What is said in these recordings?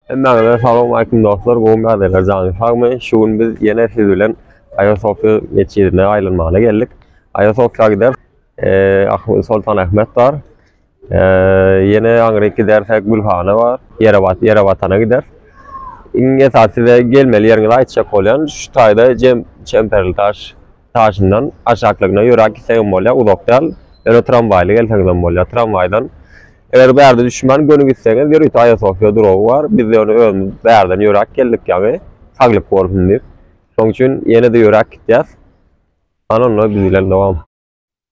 Hemmäňize salam aleýkum dostlar, gowy bärdeler jany sagmy? Şu gün biz ýene siz bilen Aýasofýa metjidine aýlanmaga geldik. Aýasofýa gider, e, Soltan Ahmet bar. E, ýene aňryk gidersek Gülhana bar, Ýerebat, Ýerebatana gider. Iň esasy we gelmeli ýeriňizi aýtjak bolýan şu taýda Jem Çemperli taş Taşyndan aşaklygyna ýöräp gitseňem bolýar, uzak däl. Ýöne tramwaýly gelseňizem bolýar. Tramwaýdan eger bärde düşmän göni gitseňiz, ýörite Aýasofýa duragy bar. Biz ýöne özümiz bärden ýöräp geldik ýaňy, saglyk bolsun diýip. Şonuň üçin ýene-de ýöräp gitýäs. Hany onda biz bilen dowam.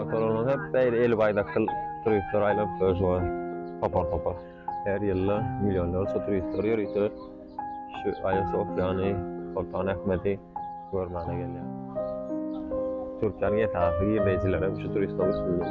Oturanlar hep beýle eli baýdakdyr turistler aýlap durýar. Topar topar. Her ýylda millionlarça turistler ýörite şu Aýa Sofiýany, Soltan Ahmedi görmäne gelýär. Türkiýäniň esasy girdeýjileri hem şu turistler üçindir.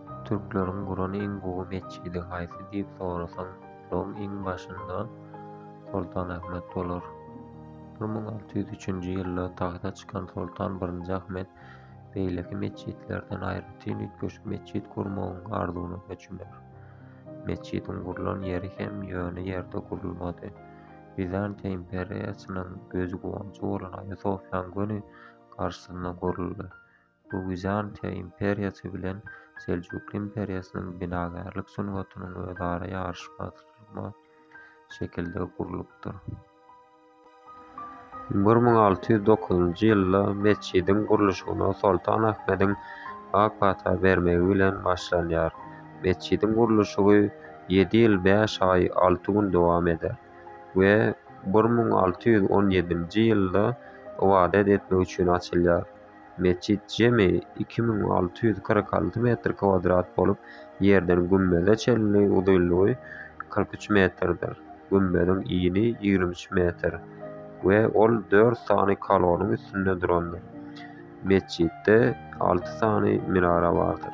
Türkleriň guran iň gowy metjidi haýsy diýip sorasaň, olaryň iň başynda Soltan Ahmet bolar. Bir müň alty ýüz üçünji ýylda tagta çykan Soltan birinji Ahmet beýleki metjitlerden aýratyn üýtgeşik metjit gurmagyň arzuwyna çümer. Metjidiň gurlan ýeri hem ýöne ýerde gurulmady. Wizantiýa imperiýasynyň gözi-guwanjy bolan Aýasofýaň göni garşysyna guruldy. Bu Wizantiýa imperiýasy bilen Seljukly imperiýasynyň binagärlik sungatynyň özara ýaryşmazlygy şekilde gurlupdyr. Bir müň alty ýüz dokuzynjy ýylda metjidiň gurluşygyna Soltan Ahmediň ak pata bermegi bilen başlanýar. Metjidiň gurluşygy ýedi ýyl bäş aý alty gün dowam eder we bir müň alty ýüz on ýedinji ýylda ybadat etmek üçin açylýar. Metjit jemi iki müň alty ýüz kyrk alty metr kwadrat bolup, ýerden gümmeze çenli uzynlygy kyrk üç metrdir. Gümmeziň ini ýigrimi üç metr we ol dört sany kaloryň üstünde durandyr. Metjitde alty sany minara bardyr.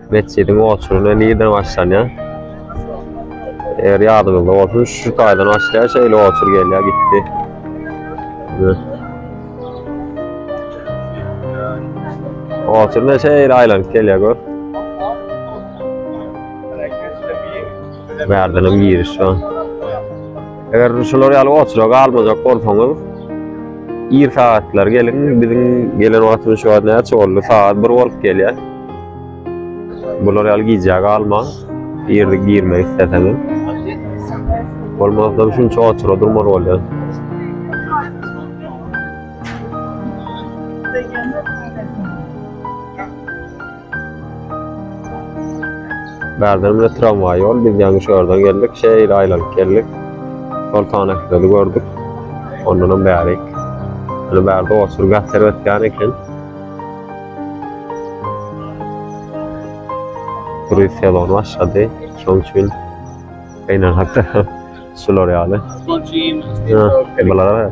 Metjidiň oturuna nirden başlanýar? Eger ýadyňyzda bolsun, şu taýdan başlaýar, şeýle otur gelýär, gitdi. Oturuna şeýle aýlanyp gelýär, gör. Bärden hem giriş bar. Eger şular ýaly otura galmajak bolsaňyz, ir sagatlar geliň, biziň gelen wagtymyz şu wagt näçe boldy? Sagat 1 bolup gelýär. Bular ýaly gijä galma. Girdik girmek isteseňiz. Bolmasa şunça otura durmaz bolýar. Bärden bile tramway ýol, biz ýaňy şu ýerden geldik, şeýle aýlanyp geldik. Soltan Ahmedi gördük. Ondan bärik. Ýöne bärde otur gässer ötýän eken. Kruiz sezony başlady. Şonuň üçin beýnenakda şular ýaly. Bulara.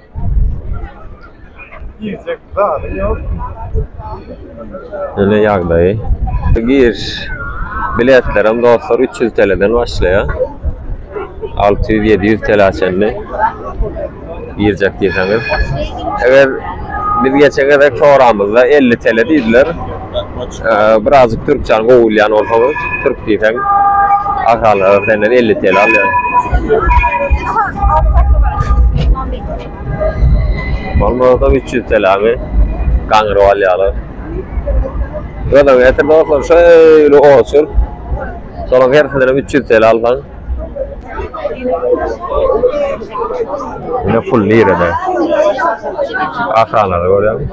Öne ýagdaýy. Giriş biletlerem dostlar 300 TL'den başlaýar. 600-700 TL'a çenli girjek diýseňiz. Eger biz geçen gezek soramyzda 50 TL diýdiler. Birazjyk türkçäni gowy bilýän bolsaňyz, türk diýseň, aşalyga senden elli TL alýar. Bolmasa üç ýüz TLmi gaňryp alýarlar. Gözaň getir dostlar, şeýle otur. Soraň hersinden hem üç ýüz TL alsaň. Ine pul nirede? Aşalyga görýäňmi?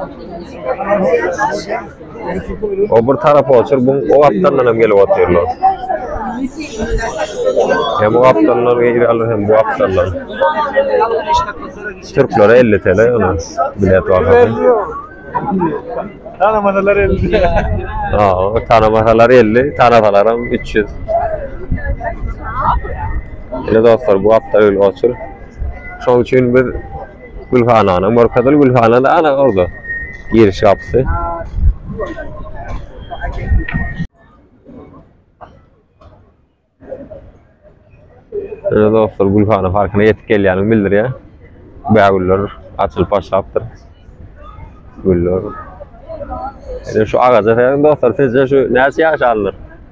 O bir tarapa otur, bu o gapdandan hem gelip otyrlar. Hem o gapdandan gelýärler, hem bu gapdandan. Türklere 50 TL ýöne bilet var. Tanamasalar 50. Ha, tanamasalar 50, tanasalar hem 300. Ele dostlar, bu gapda öyle otur. Şoň üçin biz Gülhanana, Morkadyl Gülhana da ana orada. Giriş gapysy. Ene dostlar Gülhana parkına yetip gelýänini bildirýär. Bägüller açylyp başlapdyr. Güller. Ene şu agaja serin dostlar, sizce şu näçe ýaş alnyr?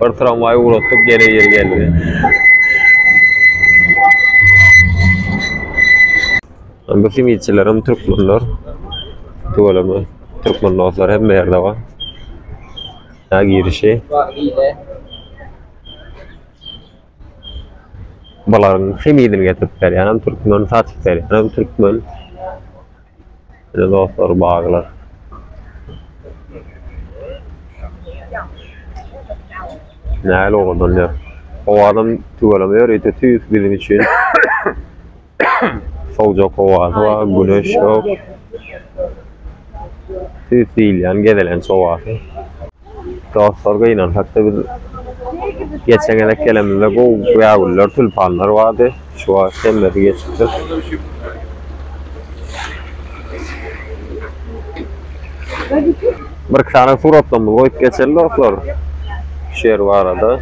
Bir tramwaý ugratdyk, gene ýeri geldi. Bu simitçiler hem türkmenler. Tüweleme türkmen dostlar hem ýerde bar. Ya girişi. Balaryň simidini getirip berýän hem türkmen, satyp berýän hem türkmen. Size dostlar baglar. Näl owadan ýer. Owadan tüweleme ýer ýete tüýs biziň üçin. Sowjak howasy bar, güneş ýok. Tüýs diýilýän gezelenç howasy. Dostlar gynansak-da biz geçen gezek gelenimizde gowy bägüller, tülpanlar bardy. Şu wagt hemmesi geçipdir. Bir iki sany suratlarymyzy goýup geçeli dostlar. Şu ýer barada.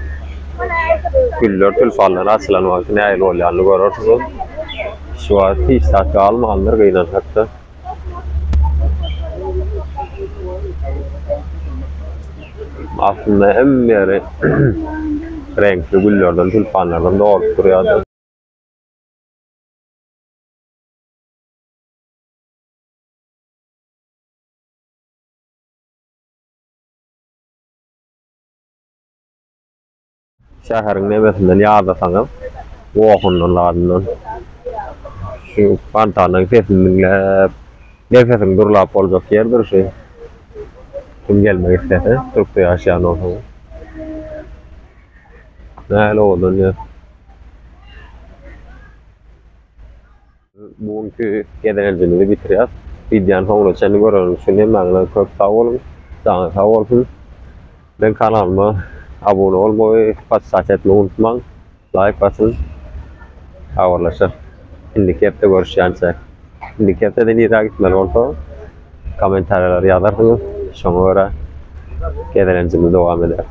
Güller, tülpanlar açylan wagty nähili bolýanyny görersiňiz. Şu wagt hiç zat galmandyr gynansak-da. Aslynda hemme ýeri reňkli güllerden, tulpanlardan dolup durýardy. Şäheriň nebesinden ýadasaňyz, gohundan, ladyndan şu fontanyň sesini diňläp, nebsesiň durlap boljak ýerdir şu. Kim gelmek islese, Türkde ýaşaýan bolsaňyz. Nähili owadan ýer. Bu günki gezelenjimizi bitirýäs. Wideony soňuna çenli göreniňiz üçin hemmäňize köp sag boluň. Janyňyz sag bolsun. Meň kanalyma abuna bolmagy, podpisasiýa etmegi unutmaň. Laýk basyň. Habarlaşak. Indiki hepde görüşýänçä. Indiki hepdede nirä gitmeli bolsa kommentariýalara ýazarsyňyz. Şoňa görä gezelenjimizi dowam ederis.